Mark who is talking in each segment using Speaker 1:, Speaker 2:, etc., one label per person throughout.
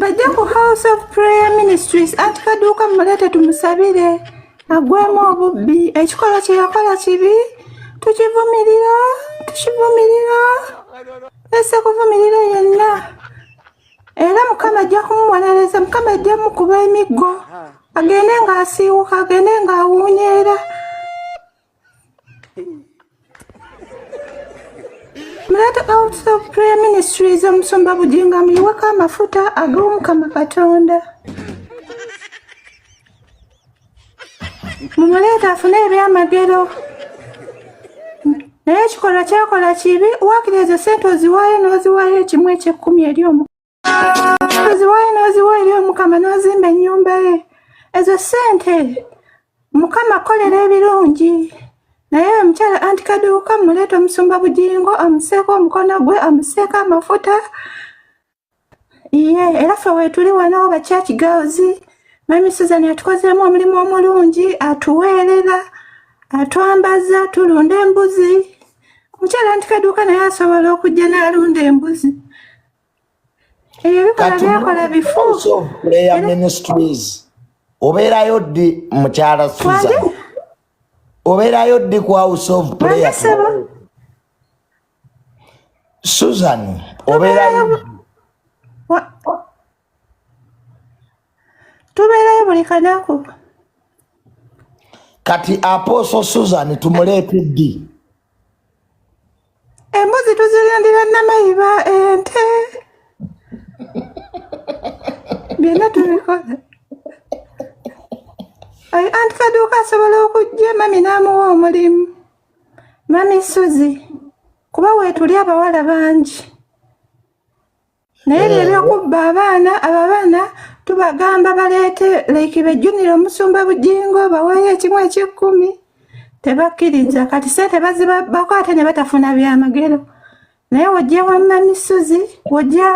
Speaker 1: bajja ku house of prayer ministries anti kaduuka mumuleete tumusabire agwemu obubbi ekikolwa kyeyakola kibi tukivumirira tukivumirira ese kuvumirira yenna era mukama ajja kumubonereza mukama ajja mukuba emiggo agende ng'asiiwuka agende ng'awuunyeera Let out of prayer ministries omusumba bujinga muyiweko amafuta ag'omukama katonda mumuleeta afune ebyamagero naye ekikolwa kyakola kibi wakira ezo sente oziwaayo n'oziwaayo ekimu ekyekkumi eri omu noziwayo noziwa eri omukama nozimba enyumba ye ezo sente mukama kolera ebirungi naye omukyala anti kaduuka muleeta omusumba bugingo amuseeko omukono gwe amuseeko amafuta iye era fe wetuli wano oba church girls mami susan atukozeemu omulimu omulungi atuweerera atwambaza tulunda embuzi omukyala anti kaduuka naye asobola okujja n'alunda embuzi
Speaker 2: obeerayo ddi mukyala suza obeerayo ddi ku house of prayer susan obeerayo
Speaker 1: tubeerayo buli kanaku
Speaker 2: kati aposo susan tumuleete ddi
Speaker 1: embuzi tuzirindira namayiba ente byonna tubikola anti kaduuka asobola okujja mami n'amuwa omulimu mami suzi kuba weetuli abawala bangi naye leero eh. okubba abaana abo abaana tubagamba baleete like bejjunire omusumba bujingo baweeyo ekimu ekyekkumi tebakkiriza kati sente bazibabbako ate ne batafuna byamagero naye wojja wamma misozi wojja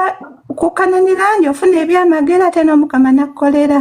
Speaker 1: kukananira nti ofuna ebyamagero ate n'omukama nakkolera